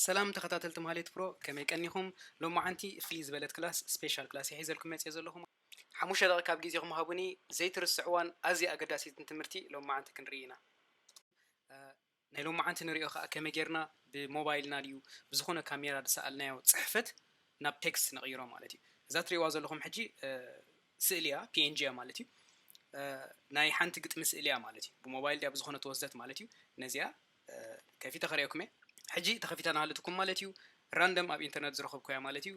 ሰላም ተኸታተልቲ ማህሌት ፕሮ ከመይ ቀኒኹም ሎማዓንቲ ፍልይ ዝበለት ክላስ ስፔሻል ክላስ እየ ሒዘልኩም መፅየ ዘለኹ ሓሙሽተ ደቒቕ ካብ ግዜኹም ሃቡኒ ዘይትርስዕዋን ኣዝያ ኣገዳሲትን ትምህርቲ ሎማዓንቲ ክንርኢ ኢና ናይ ሎማዓንቲ ንሪኦ ኸኣ ከመይ ጌርና ብሞባይልና ድዩ ብዝኾነ ካሜራ ዝሰኣልናዮ ፅሕፈት ናብ ቴክስት ንቕይሮ ማለት እዩ እዛ ትሪእዋ ዘለኹም ሕጂ ስእሊ እያ png እያ ማለት እዩ ናይ ሓንቲ ግጥሚ ስእሊ እያ ማለት እዩ ብሞባይል ድያ ብዝኾነ ተወስደት ማለት እዩ ነዚኣ ከፊተ ከርእየኩም እየ ሕጂ ተከፊታ ናሃለትኩም ማለት እዩ ራንደም ኣብ ኢንተርነት ዝረከብኩያ ማለት እዩ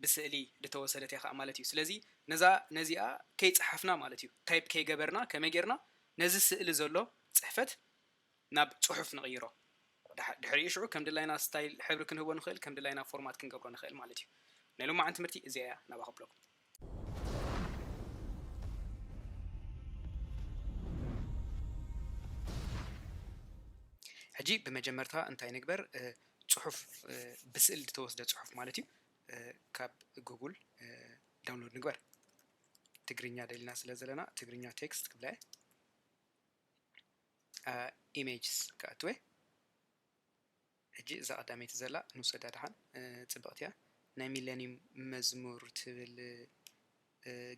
ብስእሊ ድተወሰደት እያ ከኣ ማለት እዩ ስለዚ ነዛ ነዚኣ ከይጸሓፍና ማለት እዩ ታይፕ ከይገበርና ከመይ ጌርና ነዚ ስእሊ ዘሎ ጽሕፈት ናብ ጽሑፍ ንቕይሮ ድሕሪኡ ሽዑ ከም ድላይና ስታይል ሕብሪ ክንህቦ ንኽእል ከም ድላይና ፎርማት ክንገብሮ ንኽእል ማለት እዩ ናይ ሎማዓንቲ ትምህርቲ እዚኣ እያ ናባኸብለኩም ሕጂ ብመጀመርታ እንታይ ንግበር ጽሑፍ ብስእል ዝተወስደ ጽሑፍ ማለት እዩ ካብ ጉጉል ዳውንሎድ ንግበር ትግርኛ ደሊና ስለ ዘለና ትግርኛ ቴክስት ክብለ ኢሜጅስ ክኣትወ ሕጂ እዛ ቀዳመይቲ ዘላ ንውሰዳ ድሓን ጽብቅቲ እያ ናይ ሚለንዩም መዝሙር ትብል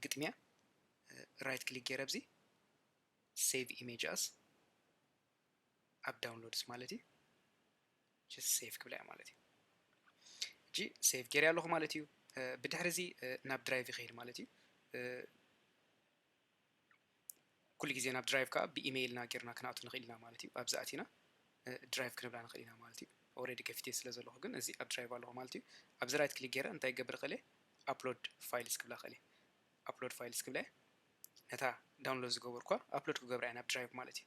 ግጥሚ እያ ራይት ክሊክ ጌረ ኣብዚ ሴቭ ኢሜጅ ኣስ ኣብ ዳውንሎድስ ማለት እዩ ጀስት ሴቭ ክብላ እያ ማለት እዩ እጂ ሴቭ ጌርያ ኣለኹ ማለት እዩ ብድሕሪ እዚ ናብ ድራይቭ ይኸይድ ማለት እዩ ኩሉ ግዜ ናብ ድራይቭ ከኣ ብኢመይል እና ጌርና ክንኣቱ ንኽእል ኢና ማለት እዩ። ኣብዚ ኣቲና ድራይቭ ክንብላ ንኽእል ኢና ማለት እዩ። ኦረዲ ከፊተዮ ስለ ዘለኹ ግን እዚ ኣብ ድራይቭ ኣለኹ ማለት እዩ። ኣብዚ ራይት ክሊክ ጌረ እንታይ ክገብር እኽእል እየ ኣፕሎድ ፋይልስ ክብላ እኽእል እየ። ኣፕሎድ ፋይልስ ክብላ እየ። ነታ ዳውንሎድ ዝገበርኩዋ ኣፕሎድ ክገብራ እየ ናብ ድራይቭ ማለት እዩ።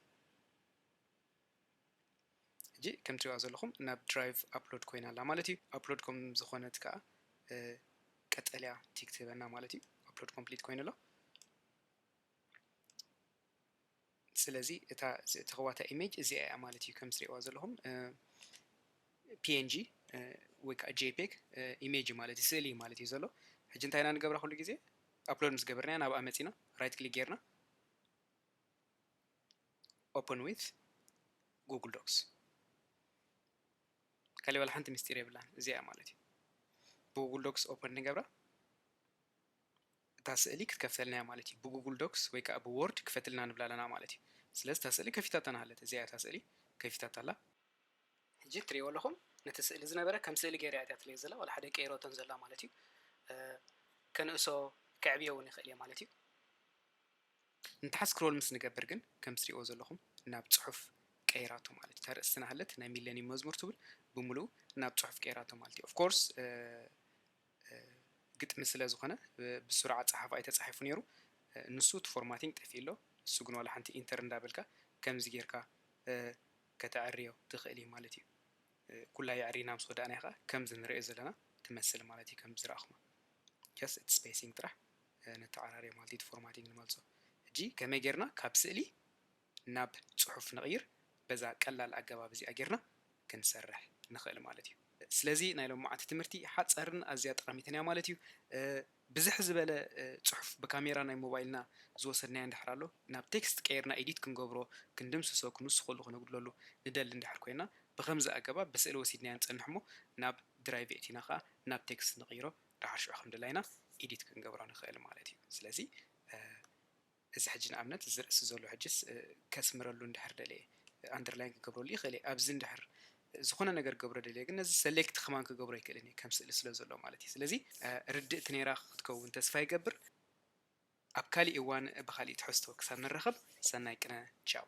ሕጂ ከም ትሪእዋ ዘለኹም ናብ ድራይቭ ኣፕሎድ ኮይና ኣላ ማለት እዩ ኣፕሎድ ከም ዝኾነት ከኣ ቀጠልያ ቲክ ትህበና ማለት እዩ ኣፕሎድ ኮምፕሊት ኮይኑ ኣሎ ስለዚ እታ ዝተኸዋታ ኢሜጅ እዚኣ እያ ማለት እዩ ከም ትሪእዋ ዘለኹም ፒኤንጂ ወይ ከዓ ጄፔግ ኢሜጅ ማለት እዩ ስእሊ ማለት እዩ ዘሎ ሕጂ እንታይ ኢና ንገብራ ኩሉ ግዜ ኣፕሎድ ምስ ገበርና ናብ ኣመፂና ራይት ክሊክ ጌርና ኦፕን ዊዝ ጉግል ዶክስ ካሊእ ዋላ ሓንቲ ምስጢር የብላን እዚኣ እያ ማለት እዩ ብጉግል ዶክስ ኦፕን ንገብራ እታ ስእሊ ክትከፍተልና እያ ማለት እዩ ብጉግል ዶክስ ወይ ከዓ ብዎርድ ክፈትልና ንብላ ኣለና ማለት እዩ ስለዚ እታ ስእሊ ከፊታታና ሃለት እዚኣ እታ ስእሊ ከፊታታ ኣላ ሕጂ እትሪእዎ ኣለኹም ነቲ ስእሊ ዝነበረ ከም ስእሊ ገይረ እያ ትለየ ዘላ ዋላ ሓደ ቀይሮቶን ዘላ ማለት እዩ ከንእሶ ከዕብዮ እውን ይኽእል እየ ማለት እዩ ንታሕት ስክሮል ምስ ንገብር ግን ከም ትሪእዎ ዘለኹም ናብ ጽሑፍ ቀይራቶ ማለት እዩ። እታ ርእሲ ዝነሃለት ናይ ሚለኒየም መዝሙር ትብል ብምሉኡ ናብ ጽሑፍ ቀይራቶ ማለት እዩ። ኦፍ ኮርስ ግጥሚ ስለ ዝኾነ ብስሩዕ ኣጸሓሕፋ እዩ ተጻሒፉ ነይሩ። ንሱ እቲ ፎርማቲንግ ጠፊኡ ኣሎ። ንሱ ግን ዋላ ሓንቲ ኢንተር እንዳበልካ ከምዚ ጌርካ ከተዐርዮ ትኽእል እዩ ማለት እዩ። ኩላ የዕሪና ምስ ወዳእናያ ከኣ ከምዚ ንርእዮ ዘለና ትመስል ማለት እዩ ከምዚ ዝረኣኹማ ጀስት እቲ ስፔሲንግ ጥራሕ ነተዓራርዮ ማለት ኢዩ እቲ ፎርማቲንግ ንመልሶ ሕጂ ከመይ ጌርና ካብ ስእሊ ናብ ጽሑፍ ንቕይር በዛ ቀላል ኣገባብ እዚኣ ጌርና ክንሰርሕ ንኽእል ማለት ኢዩ ስለዚ ናይ ሎምዓንቲ ትምህርቲ ሓጸርን ኣዝያ ጠቓሚትን ኢያ ማለት ኢዩ ብዝሕ ዝበለ ጽሑፍ ብካሜራ ናይ ሞባይልና ዝወሰድናዮ እንድሕር ኣሎ ናብ ቴክስት ቀይርና ኤዲት ክንገብሮ ክንድምስሶ ክንውስኸሉ ክነጉድለሉ ንደሊ እንድሕር ኮይና ብኸምዚ ኣገባብ ብስእሊ ወሲድናዮ ንጸንሕሞ ናብ ድራይቭ የእቲና ከኣ ናብ ቴክስት ንቕይሮ ደሓር ሽዑ ከምደላይና ኢዲት ክንገብሮ ንክእል ማለት እዩ ስለዚ እዚ ሕጂ ንኣብነት እዚ ርእሲ ዘሎ ሕጂስ ከስምረሉ እንድሕር ደልየ ኣንደርላይን ክገብረሉ ይኽእል እየ ኣብዚ እንድሕር ዝኾነ ነገር ገብረ ደልየ ግን ነዚ ሰሌክት ከማን ክገብሮ ኣይክእልን እየ ከም ስእሊ ስለ ዘሎ ማለት እዩ ስለዚ ርድእቲ ነይራ ክትከውን ተስፋ ይገብር ኣብ ካሊእ እዋን ብካሊእ ትሕዝቶ ክሳብ ንራኸብ ሰናይ ቅነ ቻው